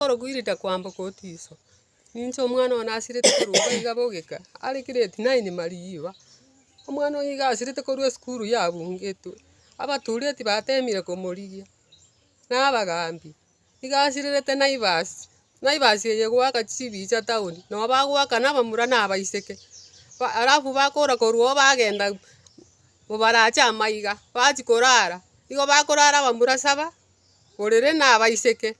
Orokuirita kwamboka otiso, ninche omwana one nasirete korwa iga iga bogeka, are grade nine marigiiba, omwana oye iga asirete korwa esukuru yabugetwe, abatureti batemire komorigia, na abagambi, iga asirerete naivas, naivas eye egoaka chibicha town, nabo bagoaka na abamura na abaiseke, ba- alafu bakora korwa iga bagenda mobarache amaiga, bachia korara, igo bakorara abamura saba, orere na abaiseke.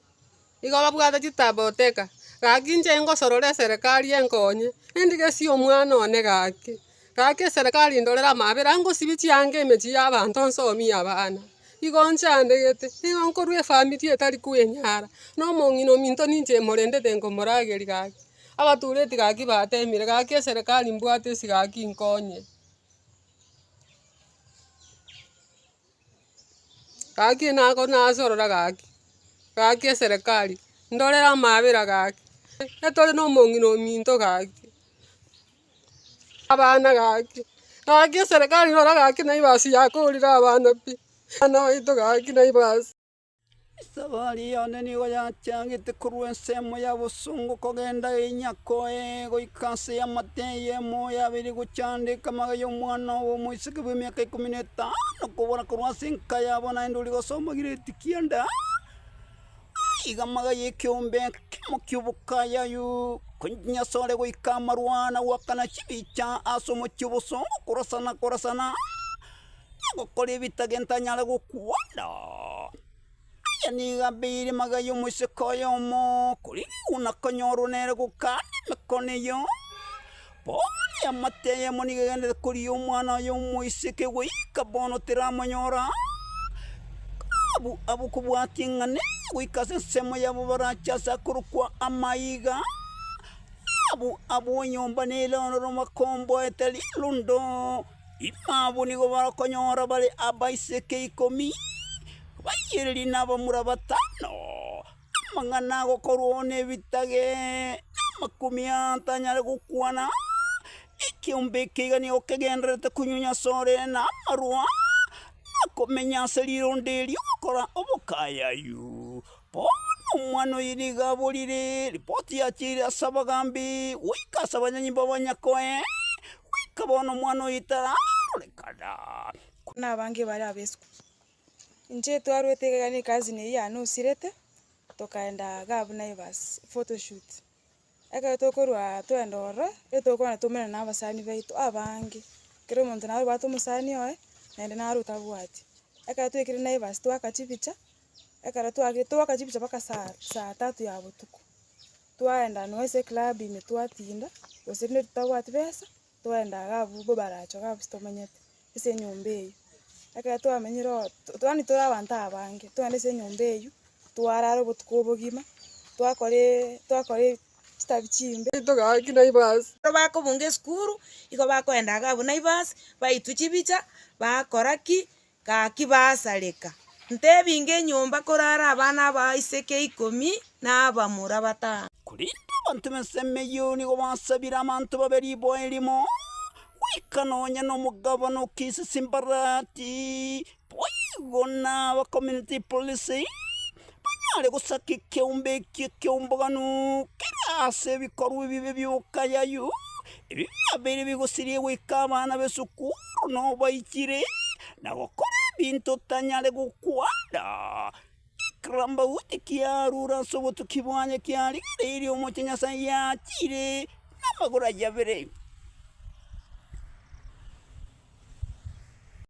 Igo babwate chitaabo goteka, Gaki inche ingosorora eserekari enkonye, endigesie omwana one gaki. Gaki eserekari indorere amaabera, ngosibie chianga emechie y'abanto nsomie abana. Igo nchandegete, nigo nkorwa efamiri etari kwenyara, na omong'ina ominto ninche morendete nkomorageria gaki. Abatureti gaki bateemire, gaki eserekari mbwate ase gaki inkonye. Gaki nako nasorora gaki, gaki eserekari ndorere amaabera gaki, tore na omong'ina ominto gaki, abana gaki, gaki eserekari rora gaki naibasi yakorire abana pi, abana baito gaki naibasi. Esabari yane nigo yachagete korwa ensemo ya bosongo kogenda enyako ee goika ase y'amatee y'emoo ya abere gochia ande ekamaga y'omwana obo omoiseke bw'emiaka ikomi na etano kobora korwa ase enka yabo naende oria gosomba gireti kianda iga amaga y'ekeombe ekemo ki'obokaya yuu konya ase ore goika amarwa na goakana chibicha ase omochie obosongo korasana korasana. Ogokora ebitagentanyara gokwanda. Aya nigo abeire amagaya y'omoiseke oyomo, korende oyo onakonyorwa nere gokanda emekone eyio. Bono eamate eyemo nigo egenderete korigia omwana oye omoiseke goika bono teramonyora, karabu abwo kobwatia ng'a nere goika ase ensemo yabo barache ase akorokwa amaiga, karabu abwo nyomba nere ororo bakomboete rirundu. Ime abwo nigo barokonyora bare abaiseke ikomi, abayieri na abamura batano, amang'ana agokorwa nebitage namakumi atanyare gokwana, ekiombe eke iga nigo kegendererete konyunywa ase orere na amarwa, na komenya ase rironda erio gokora obokayayu. Bono omwana oye nigo aborire ripoti yachiire ase abagaambi goika ase abanyanyi b'abanyako ee, goika bono omwana oye tararorekana. Korwa nabange bare abesiko, inche twarwete iga ekero ne ecousin eyio yane osirete, tokaenda Gavnairs photoshoot. ekero tokorwa twende ororo, nigo tokogenda twaumerana na abasani baito abange, kera omonto naye obwate omosani oye, naende nare otabwati. Ekero twaikire naivasi twaka chibicha, ekero twagire twaka chibicha mpaka saa saa tatu ya botuko, twaenda nonye ase eclub ime twatinda, gose rinde totabwati besa. Toenda iga abwo bo barache iga abwo tomenyete, ase enyomba eyio. Ekero twamenyire oo yaani tore abanto abange, toende ase enyomba eyio, twarara obotuko obogima, twakoree twakore chitabi chimbe, togaki naivas. Ekero bakobunga esukuru, igo bakoenda iga abwo naivas, baitwa chibicha, bakora ki, Gaki baasareka, ntebinge enyomba korara abana abaiseke ikomi na abamura batano. Korende abanto b'ense emeyio nigo basabire abanto babe riboa erimo, goika nonya nomogabana o Kisisi Mbarati, boigo naba community police. Banyare gosaka ekeombe eke ekeombogano kere ase ebikorwa ebibe bi'obokayayu, ebi biabeire bigosirie goika abana b'esukuru nobaikire, na gokora ebinto otanyare gokwanda. Ekirambauti kiarure ase obotuki bwaye kiarigereirie omochie Nyasae yachire namagoro aye abere.